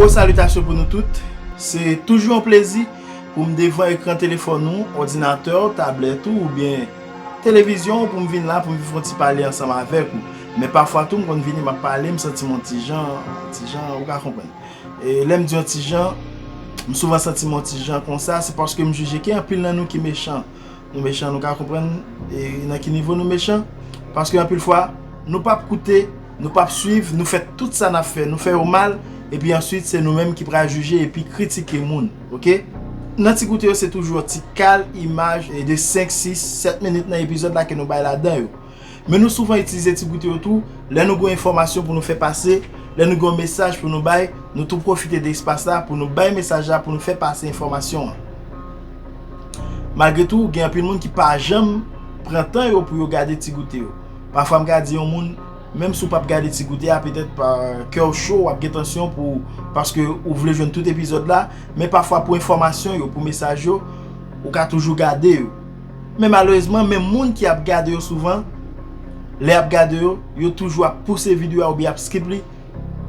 Gwo salitasyon pou nou tout, se toujou yon plezi pou m devan ekran telefòn ou, òdinatè w, tablèt ou oubyen televizyon w pou m vin la pou m vin fè yon ti pale ansanm avèk ou. Men pafwa tou m konn vini m ap pale m santi m yon ti jan, yon ti jan ou ka konprann. E lè m di yon ti jan, m souvan santi m yon ti jan konsa, se paske m jije gen anpil nan nou ki mechan. Nou mechan, nou ka konprann nan ki nivo nou mechan? Paske anpil fwa, nou p ap koute, nou p ap suiv, nou fè tout sa n ap fè, nou fè yo mal, epi answit se nou menm ki pral jije epi kritike moun. Ok? Nan ti goute yo se toujou yon ti kal imaj de 5, 6, 7 minit nan epizòd la ke nou bay ladan yo. Men nou souvan itilize ti goute yo tou, lè nou gen yon enfòmasyon pou nou fè pase, lè nou gen yon mesaj pou nou bay, nou tou pwofite de espas la pou nou bay mesaj la, pou nou fè pase enfòmasyon an. Malgre tou, gen anpil moun ki pa janm pran tan yo pou yo gade ti goute yo. Pafwa m ka di yon moun, menm si w p ap gade ti goute a, petèt kè w cho, w ap gen tansyon pou paske ou vle jwenn tout epizòd la, men pafwa pou enfòmasyon yo, pou mesaj yo, ou ka toujou gade yo. Men malerezman menm moun ki ap gade yo souvan lè yap gade yo, yo toujou ap pouse video a oubyen ap skip li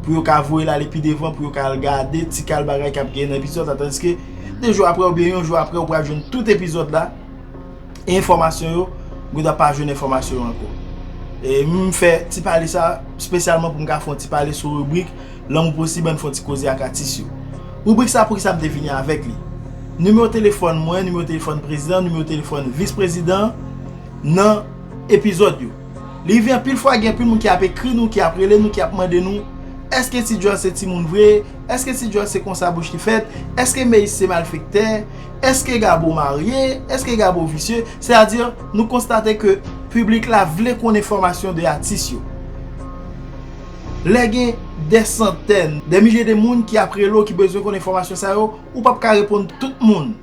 pou yo ka voyel ale pi devan pou yo ka al gade ti kal bagay kap genyen nan epizòd la tandiske 2 jou aprè oubyen yon jou aprè ou pral jwenn tout epizòd la e enfòmasyon yo ou ta pa jwenn enfòmasyon yo ankò. E m fè ti pale sa spesyalman pou m ka fè yon ti pale sou ribrik. Lanmou Posib ann fè yon ti koze ak atis yo. Ribrik sa poukisa m te vini avèk li? Nimewo telefòn mwen, nimewo telefòn prezidan, nimewo telefòn vis prezidan nan epizòd yo. Li rive anpil fwa gen anpil moun ki ap ekri nou, ki ap rele nou, ki ap mande nou, Èske Ti Djòl se timoun vre? Èske Ti Djòl se konsa bouch li fèt? Èske Meyis se malfektè? Èske Gabo marye? Èske Gabo visye? Sètadi, nou konstate ke piblik la vle konn enfòmasyon de atis yo. Lè gen dè santèn, dè milye de moun ki ap rele w ki bezwen konn enfòmasyon sa yo, ou p ap ka reponn tout moun.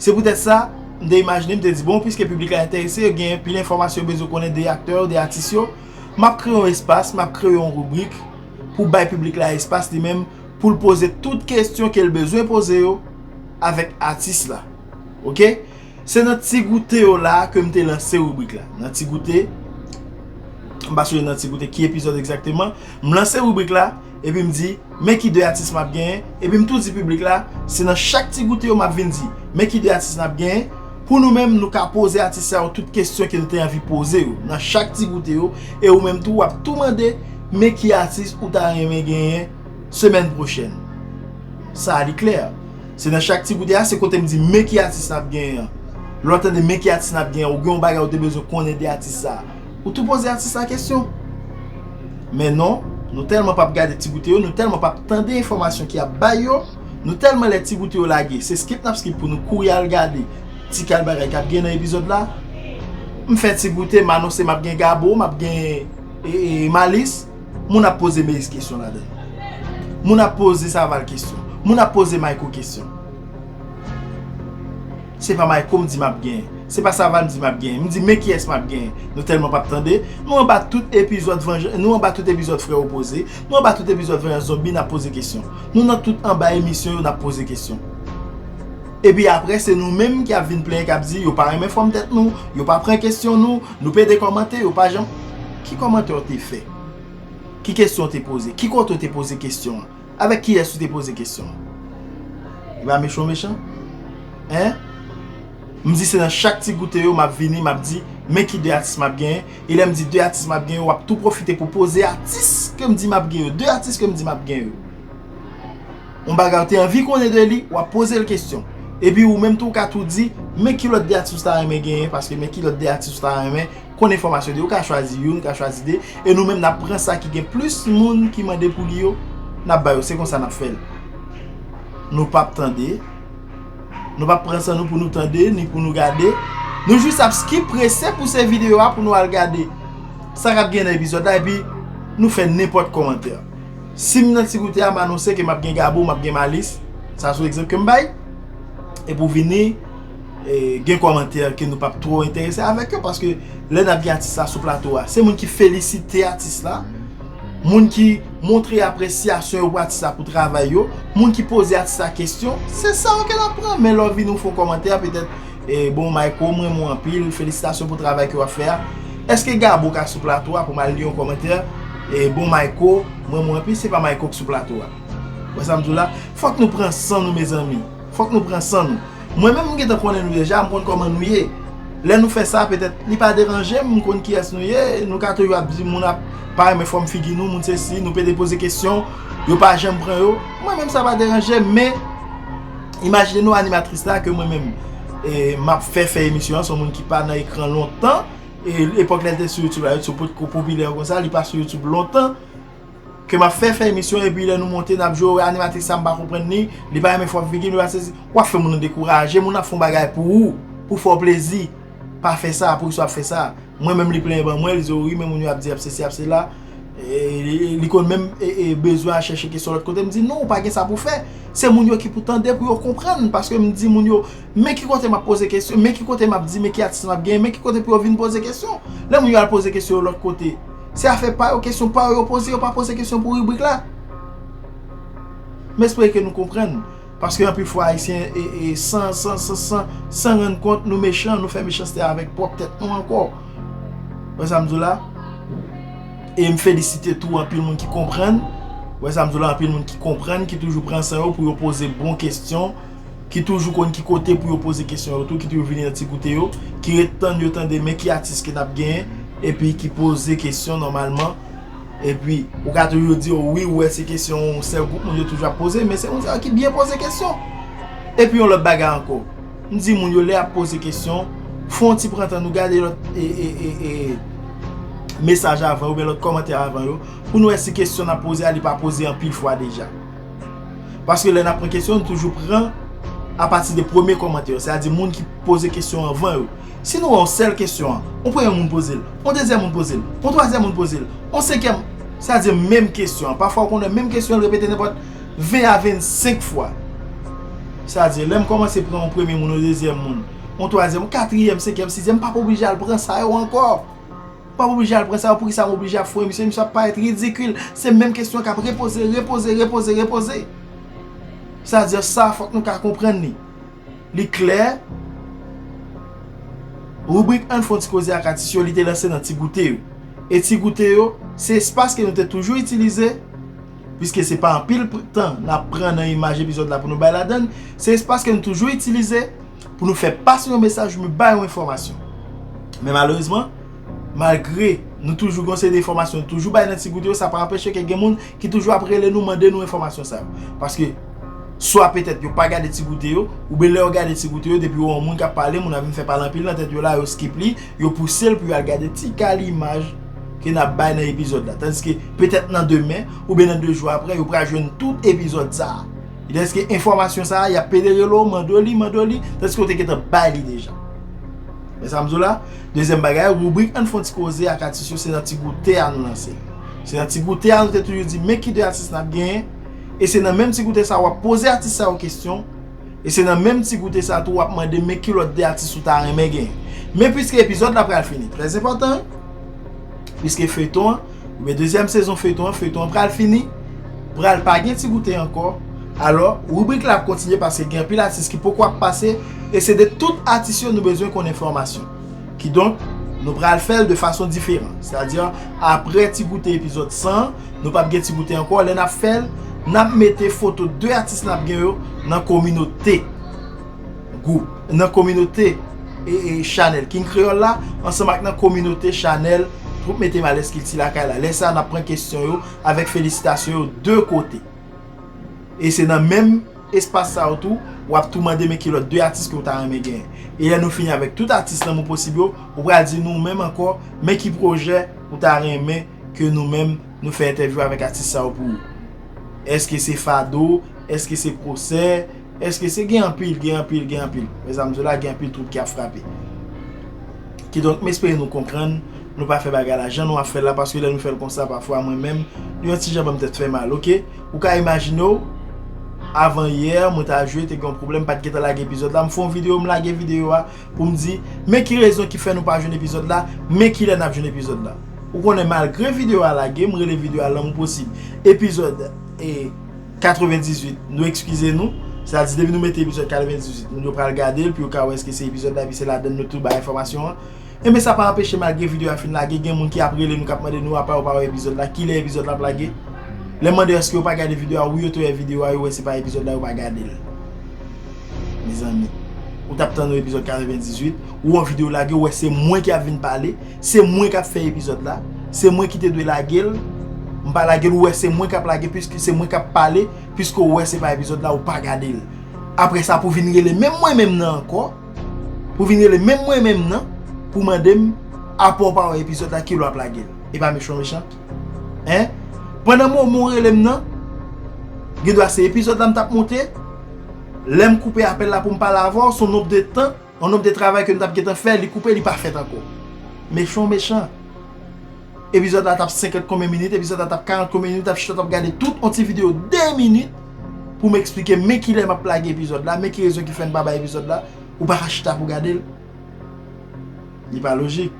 Se poutèt sa, m te imajine, m te di bon, piske piblik la enterese, yo gen pil enfòmasyon yo bezwen konnen de aktè yo, de atis yo, m ap kreye yon espas, m ap kreye yon ribrik pou bay piblik la espas li menm pou l poze tout kesyon ke l bezwen poze yo avèk atis la. Ok? Se nan ti goute yo la ke m te lanse ribrik la. Nan ti goute, m pa sonje nan ti goute ki epizòd egzakteman, m lanse ribrik la, epi m di, men ki 2 atis m ap genyen, epi m tou di piblik la, se nan chak ti goute yo m ap vin di, men ki 2 atis n ap genyen, pou nou menm nou ka poze atis sa yo tout kesyon ke nou te anvi poze yo, nan chak ti goute yo, e ou menm tou w ap tou mande, men ki atis ou ta renmen genyen semèn pwochèn. Sa a li klè. Se nan chak ti koute a se kote m di men ki atis n ap genyen an. Lè w tande men ki atis n ap genyen an, ou gen yon bagay ou te bezwen konnen de atis sa a. Ou tou poze atis la kesyon. Men non, nou tèlman p ap gade ti koute yo, nou tèlman p ap tande enfòmasyon ki ap bay yo, nou tèlman lè ti koute yo lage, se skip n ap skip pou nou kouri al gade ti kal bagay k ap genyen nan epizòd la. M fè ti koute, m anonse m ap gen Gabo, m ap gen Malis. Moun ap poze Meyis kesyon ladan yo. Moun ap poze Saval kesyon. Moun ap poze Mayko kesyon. Se pa Mayko m di m ap genyen. Se pa Saval m di m ap genyen. M di men kiyès m ap genyen. Nou tèlman p ap tande. Nou anba tout epizòd vanjans, nou anba tout epizòd frè opoze, nou anba tout epizòd vanjans zonbi n ap poze kesyon. Nou nan tout anba emisyon yo n ap poze kesyon. Epi aprè se nou menm ki ap vin plenyen k ap di yo pa renmen fòm tèt nou, yo pa pran kesyon nou, nou pede kòmante, yo pa janm. Ki kòmantè ou te fè? Ki kesyon ou te poze? Ki kote ou te poze kesyon an? Avèk kiyès ou te poze kesyon an? Li pa mechan mechan? Hein? M di se nan chak ti goute yo m ap vini m ap di men ki 2 atis m ap genyen e lè m di 2 atis m ap genyen w ap tou pwofite pou poze atis ke m di m ap genyen yo, 2 atis ke m di m ap genyen yo. Yon bagay ou te anvi konnen de li, w ap poze l kesyon. Epi ou menm tou ou ka tou di men ki lòt 2 atis ou ta renmen genyen paske men ki lòt 2 atis ou ta renmen Konn enfòmasyon de ou ka chwazi youn ka chwazi de e nou menm nap pran sa ki gen plis moun ki mande pou li yo nap ba yo se konsa nap fèl nou pap tande nou pap pran san nou pou nou tande ni pou nou gade nou jis ap skip prese pou se video a pou nou al gade sa kap gen nan epizòd la epi nou fè nenpòt kòmantè sim nan ti koute a m anonse ke map gen gabo map gen malis sa sou egzanp kem bay e pou vini. gen kòmantè ke nou pap twò enterese avèk yo paske lè nap gen atis la sou plato a se moun ki felisite atis la moun ki montre apresyasyon yo pou atis la pou travay yo moun ki poze atis la kestyon se sa yo ke nap pran men lè w vini w fè yon kòmantè petèt bon mayko m renmen w anpil felisitasyon pou travay ke wap fè a eske gabo ka sou plato a pou m al li yon kòmantè bon mayko m renmen w anpil se pa mayko ki sou plato a wè sa m di w la fòk nou pran san nou mezanmi. Fòk nou pran san nou. Mwen menm m gentan konnen nou deja, m konn kòman nou ye. Lè nou fè sa, petèt, li pa deranje m, m konn kiyès nou ye. Nou ka toujou ap di moun ap pa renmen fòm figi nou, moun sesi, nou pede poze kesyon, yo pa janm pran yo. Mwen menm sa pa deranje m, men imajine nou animatris la ke mwen menm m ap fè fè emisyon an, son moun ki pa nan ekran lontan, e epòk lè l te sou YouTube la, YouTube potko popilè konsa, li pa sou YouTube lontan. Ke map fè fè emisyon epi lè nou monte nap jwe wè animatris sa m pa konprann li, li pa renmen fòm figi m li pa sezi, wap fè moun dekouraje, moun ap fon bagay pou ou, pou fè w plezi, pa fè sa, poukisa wap fè sa, mwen menm li plenyen ban mwen, li di ou ri men moun yo ap di ap sesi ap sela, li konn menm bezwen al chèche kesyon lòt kote, m di non ou pa gen sa pou fè, se moun yo ki pou tande pou yo konprann, paske m di moun yo men ki kote map poze kesyon, men ki kote map di men ki atis map genyen, men ki kote pou yo vin poze kesyon, lè moun yo al poze kesyon yo lòt kote. Se afè pa yo, kesyon pa yo yo poze, yo pa poze kesyon pou ribrik la. M espere ke nou konprann, paske anpil fwa Ayisyen e san, san, san, san, san rann kont nou mechan, nou fè mechanste avèk pwòp tèt nou ankò. Wè sa m di w la? E m felisite tou anpil moun ki konprann, wè sa m di w la, anpil moun ki konprann, ki toujou pran san yo pou yo poze bon kesyon. ki toujou konn ki kote pou yo poze kesyon yo tou ki toujou vini nan ti goute yo ki ret tann yo tande men ki atis ke nap genyen epi ki poze kesyon nòmalman epi ou ka toujou di yo wi ou wè se kesyon yon sèl gwoup moun yo toujou ap poze men se moun sa yo ki byen poze kesyon epi yon lòt bagay ankò m di moun yo lè yap poze kesyon fon ti pran tan nou gade lòt e e e e mesaj avan yo oubyen lòt kòmantè avan yo pou nou wè si kesyon nap poze a li pa poze anpil fwa deja. Paske lè n ap pran kesyon, nou toujou pran apati de premye kòmantè yo, sètadi moun ki poze kesyon an avan yo. Si nou wè yon sèl kesyon an, yon premye moun poze l, yon dezyèm moun poze l, yon twazyèm moun poze l, yon senkyèm, sètadi menm kesyon an. Pafwa ou konn wè menm kesyon an repete nenpòt 20 a 25 fwa. Sètadi lè m kòmanse pran yon premye moun, yon dezyèm moun, yon twazyèm, yon katriyèm, senkyèm, sizyèm, m pa p oblije al pran sa yo ankò. Pap oblije al pran sa yo poukisa m oblije ap foye misye, misye ap parèt ridikil, se menm kesyon kap repoze, repoze, repoze, repoze. Sa di sa fòk nou ka konprann li. Li klè, ribrik Ann fè yon ti koze ak atis yo li te lanse nan Ti Goute yo. E Ti Goute yo, se espas ke nou te toujou itilize, piske se pa anpil tan nap pran nan imaj epizòd la pou nou bay ladann, se espas ke nou toujou itilize, pou nou fè pase yon mesaj, pou nou bay yon enfòmasyon. Men malerezman, malgre nou toujou gen yon seri de enfòmasyon nou toujou bay nan Ti Goute yo, sa pa anpeche ke gen moun ki toujou ap rele nou mande nou enfòmasyon sa yo. Paske, swa petèt yo pa gade Ti Goute yo, oubyen lè yo gade Ti Goute yo, depi yo wè yon moun kap pale, moun nan vin fè pale anpil nan tèt yo la, yo skip li, yo pouse l pou yo al gade ti kal imaj ke n ap bay nan epizòd la. Tandiske, petèt nan demen, oubyen nan 2 jou apre, yo pral jwenn tout epizòd sa a. E deske enfòmasyon sa a y ap pede rele w mande w li, mande w li, tandiske w te gentan bay li deja. Men sa m di w la, dezyèm bagay, ribrik Ann fè yon ti koze ak atis yo se nan ti goute a nou lanse. Se nan ti goute a nou te toujou di men ki de atis n ap genyen, e se nan menm ti goute sa a w ap poze atis sa yo kesyon, e se nan menm ti goute sa a tou w ap mande men ki lòt de atis ou ta renmen genyen. Men piske epizòd la pral fini, trèzenpòtan wi, piske feyton an. Men dezyèm sezon feyton an, feyton an pral fini, pral pa gen ti goute ankò, alò ribrik la ap kontinye paske gen anpil atis ki poko ap pase e se de tout atis yo nou bezwen konn enfòmasyon. Kidonk, nou pral fè l de fason diferan. Sètadi aprè ti goute epizòd 100 an, nou pap gen ti goute ankò, lè n ap fè l, n ap mete foto 2 atis n ap gen yo nan kominote. gwoup, nan kominote chanèl King Kreyòl la, ansanm ak nan kominote chanèl Twoup Mete Malèz Kilti Lakay la. Lè sa a, n ap pran kesyon yo avèk felisitasyon yo de kote. E se nan menm espas sa yo tou, w ap tou mande men ki lòt de atis ke ou ta renmen genyen. E lè nou fini avèk tout atis Lanmou Posib yo, ou pral di nou menm ankò men ki pwojè ou ta renmen ke nou menm nou fè entèvyou avèk atis sa yo pou ou. Èske se fado? Èske se pwosè? Eske se gen anpil, gen anpil, gen anpil. Mezanm di w la gen anpil twoub ki ap frape. Kidonk m espere nou konprann, nou pa fè bagay la jan nou ap fè l la paske lè nou fè l konsa pafwa mwen menm li yon ti jan ban m tèt fè mal ok. Ou ka imajine w avan yè mwen ta jwe te gen yon pwoblèm m pa t gentan lage epizòd la m fè yon videyo m lage videyo a pou m di men ki rezon ki fè nou pa jwenn epizòd la men ki lè n ap jwenn epizòd la. Ou konnen malgre videyo a lage m rele videyo a lanmou posib epizòd e. 98 nou ekskize nou se ta di depi nou mete epizòd 98 moun yo pral gade l pou yo ka wè eske se epizòd la epi se ladan nou tou bay enfòmasyon an enben sa pa anpeche malgre videyo a fin lage gen moun ki ap rele nou k ap mande nou apa yo pa wè epizòd la kilè epizòd la ap lage lè m mande yo èske yo pa gade videyo a wi yo te wè videyo a yo wè se pa epizòd la yo pa gade l mezanmi ou t ap tann yon epizòd 98 ou wè yon videyo lage ou wè se mwen ki ap vin pale Se mwen kap fè epizòd la, se mwen ki te dwe lage l, m pa lage l ou wè se mwen kap lage puiske se mwen kap pale puiske ou wè se pa epizòd la ou pa gade l. Aprè sa pou vin rele menm mwen menm nan ankò, pou vin rele menm mwen menm nan pou mande m apre w pa wè epizòd la kilè wap lage l. Epa mechon mechan? Hein? Pandan moman w rele m nan, gen dwa se epizòd la m tap moute, lè m koupe apèl la pou m pale avè w son nombre de tan, Yon nonm de travay ke nou tap gentan fè li koupe li pa fèt ankò. Mechan w mechan. Epizòd la tap 50 konbyen minit epizòd la tap 40 konbyen minit ap chita tap gade tout yon ti video 2 minit pou m eksplike m men kilè map lage epizòd la men ki rezon ki fè m pa bay epizòd la ou pa ka chita pou w gade l. Li pa lojik.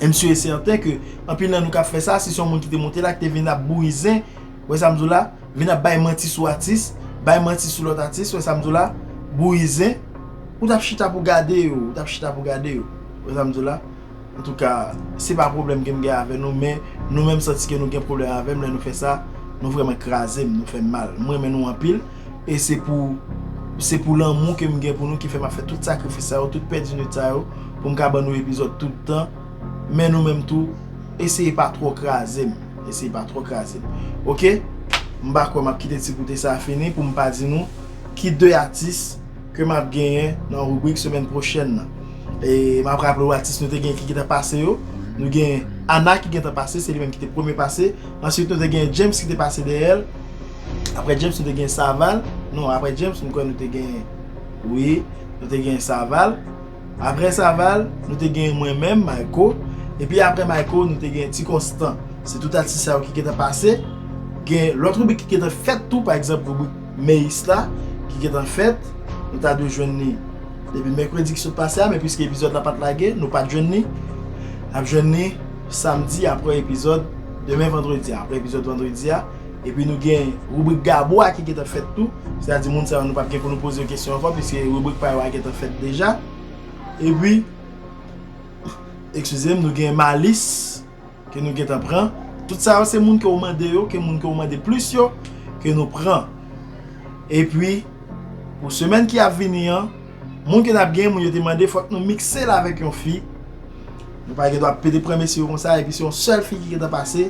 M sur et certain ke anpil nan nou kap fè sa si se yon moun ki te monte la ki te vin ap bouri zen, ou wè sa m di w la, vin ap bay manti sou atis, bay manti sou lòt atis, ou wè sa m di w la, bouri zen, ou tap chita pou gade yo, ou tap chita pou gade yo, ou wè sa m di w la. Antouka, se pa pwoblèm ke m gen avè nou men nou menm santi ke nou gen pwoblèm avè m lè nou fè sa, nou vrèman kraze m, nou fè m mal. M renmen nou anpil. E se pou Se pou lanmou ke m gen pou nou ki fè m ap fè tout sakrifis sa yo, tout pèdi nwit sa yo pou m ka ban nou epizòd tout tan Men nou menm tou eseye pa twò kraze m Eseye pa twò kraze m Ok M pa kwè m ap kite Ti Goute sa a fini pou m pa di nou ki de atis ke m ap genyen nan ribrik semèn pwochèn nan E m ap raple ou atis nou te genyen ki gentan pase yo Nou genyen Ana ki gentan pase, se li menm ki te premye pase Ansuit nou te genyen James ki te pase dèyè l Aprè James nou te gen Saval. Non, aprè James m kwè nou te gen. Wi, nou te gen Saval. Aprè Saval, nou te gen mwen menm, Mayko. Epi aprè Mayko, nou te gen Ti Konstan. Se tout atis sa yo ki gentan pase. Gen lòt ribrik ki gentan fèt tou. Pa egzanp, ribrik Meyis la ki gentan fèt. Nou ta dwe jwenn li depi mèkredi ki sot pase a. Men piske epizòd la pa t lage, nou pa t jwenn li. N ap jwenn li samdi aprè epizòd demen vandredi a. Aprè epizòd vandredi a. Epi nou gen ribrik Gabo a ki gentan fèt tou. Se ta di moun sa yo nou pap gen pou nou poze yo kesyon ankò piske ribrik pa yo a gentan fèt deja. Epi, ekskize m, nou gen Malis ke nou gentan pran. Tout sa yo se moun ke ou mande yo, ke moun ke ou mande plis yo ke nou pran. Epi, pou semèn ki ap vini an, moun ke n ap gen, moun yo te mande fòk nou mikse l avèk yon fi. Nou pa gen dwa pete pran mesye yo konsa epi se yon sèl fi ki gentan pase.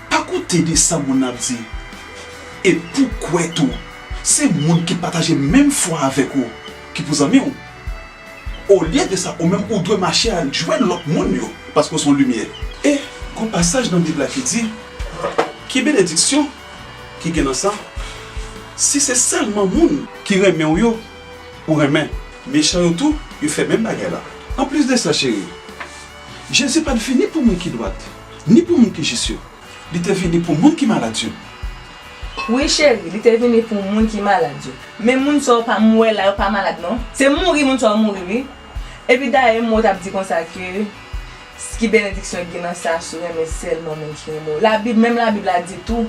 Pa koute de sa moun nan ap di. E pou kwè tou, se moun ki pataje menm fwa avèk ou ki pou zanmi w. Olye de sa, ou menm ou dwe mache al jwenn lòt moun yo, paske w se yon limyè. E, gon pasaj nan Bib la ki di, Ki benediksyon ki gen nan sa, si se sèlman moun ki renmen w yo ou renmen, mechan yo tou, yo fè menm bagay la. Anplis de sa, cheri, Jezi pa t vini pou moun ki dwat. Ni pou moun ki jis yo. Li te vini pou moun ki malad yo. Wi cheri, li te vini pou moun ki malad yo. Men moun sa yo pa m wè la yo pa malad non. Se mouri moun sa yo mouri wi. Epi dayè M. O. t ap di konsa ke ki benediksyon k gen nan sa si w renmen sèlman moun ki renmen w. Labib, menm labib la di tou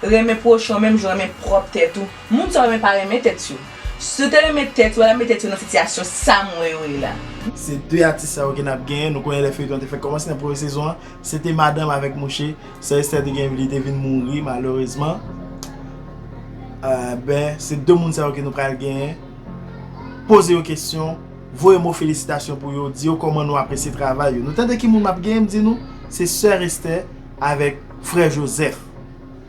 Renmen pwochen w menm jan w renmen pwòp tèt ou. Moun sa w renmen pa renmen tèt yo. Si yo te renmen tèt yo, yo pa tap met tèt yo nan sitiyasyon sa m wè yo ye la. Se 2 atis sa yo ke nap genyen, nou konnen lè feyton an te fèk kòmanse nan premye sezon an, se te madanm avèk mouche, sè Esther te genyen vi li te vin mouri malerezman, ben se 2 moun sa yo ke nou pral genyen, poze yo kesyon, voye mo felisitasyon pou yo, di yo kòman nou apresye travay yo, nou tande ki moun map genyen, m di nou, se sè Esther. Avèk frè Jozèf.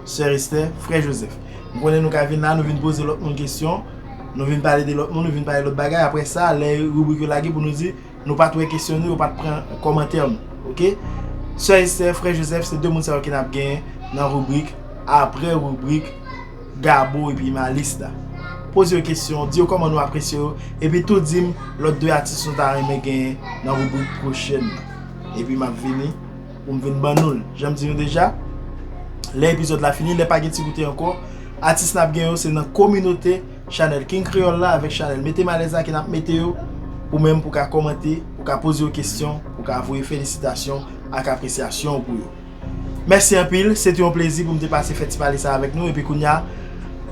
Sè Estè, frè Jozèf. M konnen nou ka vin la, nou vin poze lòt moun kesyon, nou vin pale de lòt moun, nou vin pale lòt bagay. Aprè sa, lè ribrik yo lage pou nou di, nou pa t wè kesyon nou, yo pa t pran kòmantè nou. Ok? Sè Estè, frè Jozèf, se 2 moun sa yo ki n ap gen nan ribrik aprè ribrik Gabo epi Malis la. Poze yo kesyon, di yo kòman nou apresye yo, epi tou di m lòt 2 atis nou ta renmen gen nan ribrik pwochèn nan. Epi m ap vini. pou m vin ban nou l. Jan m di nou deja, lè epizòd la fini, lè pa gen ti goute ankò, atis n ap gen yo se nan kominote chanèl King Kreyòl la avèk chanèl Mete m Alèz la ke n ap mete yo pou menm pou ka kòmante, pou ka poze yo kesyon, pou ka voye felisitasyon ak apresyasyon w pou yo. Mèsi anpil, se te yon plezi pou m te pase fè ti pale sa avèk nou epi kounya,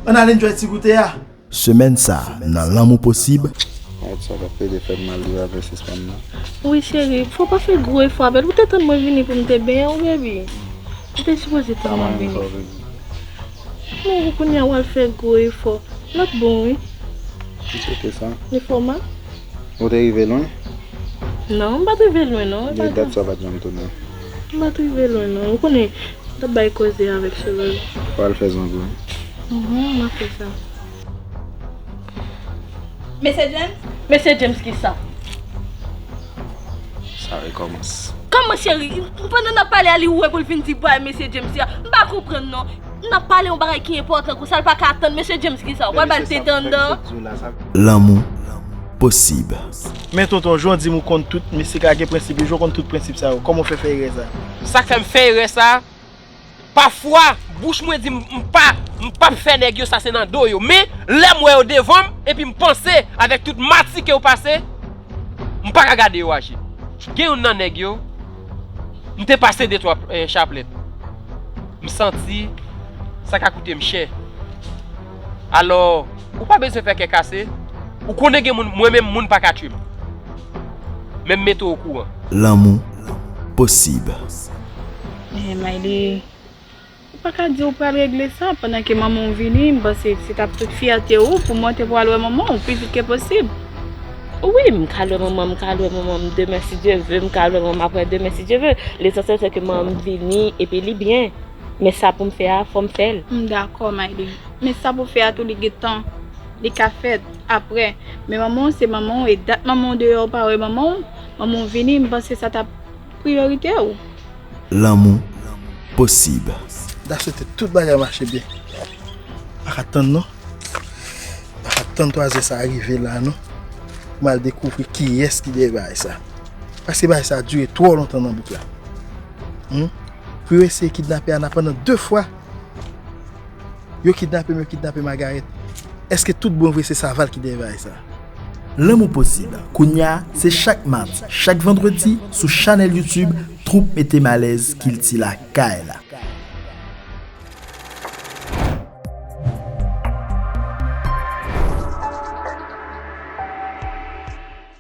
ann al enjoy ti goute a! Semèn sa nan lanmou posib. Alright sa kap pede fèm mal li pa vle sispann nan. Wi cheri fò pa fè gwo efò avèl ou te tann mwen vini poum te benyen w baby ou te sipoze tann mwen vini men pou kounya wal fè gwo efò lap bon wi It's ok sa. Efò ma. Ou te rive lwen? Non, m pa t rive lwen non. Gen dat sa pa t janm tounen. M pa t rive lwen non. Ou konnen, m t ap bay koze avèk Sholòj. Ou al fè zonbi? Uhmm, m ap fè sa. Mesye James? Mesye James ki sa? Sa rekòmanse. Kòman cheri? Pandan n ap pale a li ouvè pou l fin di bway Mesye James ya? M pa konprann non. N ap pale yon bagay ki enpòtan konsa l pa ka atann mesye James kisa ou pral ba l tete anndan. Lanmou posib. Men tonton jan w di m ou konn tout mistik la gen prensip yo jan w konn tout prensip sa yo kòman w fè fè erè sa. Sak fè m fè erè sa pafwa bouch mwen di m m pa m pap fè nèg yo sa se nan do yo men lè m wè yo devan m epi m panse avèk tout mati ke yo pase m pa ka gade yo aji gen youn nan nèg yo M te pase de twa chaplèt. M santi sa ka koute m chè. Alò, ou pa bezwen fè kè kase. Ou konnen gen moun, mwen menm moun pa ka tchwe m. Men m mete w okouran. Lanmou posib. Miley. Ou pa ka di ou pral regle sa pandan ke manman w vini, m panse se t ap tout fyète ou pou monte pou w al wè manman w pi vit ke posib. Wi, m ka al wè manman m, m ka al wè manman m demen si Dye ve, m ka al wè manman m aprè demen si Dye ve. Lesansyèl se ke manman m vini epi li byen. Men sa pou m fè a, fò m fè l. M dakò Mayli. Men sa pou w fè a tou li gen tan. Li ka fèt aprè. Men manman w se manman w e dat manman w deyò ou pa wè manman w, manman w vini m panse sa t ap priyorite ou. lanmou posib. Da swete tout bagay mache byen. Pa ka tann non. Pa ka tann 3 zè sa a rive la non. Pou m al dekouvri kiyès ki dèyè bagay sa a. Paske bagay sa a dire twò lontan nan bouk la. Pou yo eseye kidnape Ana pandan 2 fwa. Yo kidnape m, yo kidnape Magarèt. Eske tout bon vre se Saval ki dèyè bagay sa? Lanmou posib kounya se chak madi chak vandredi sou chanèl youtube troupe mete malèz kilti lakay la.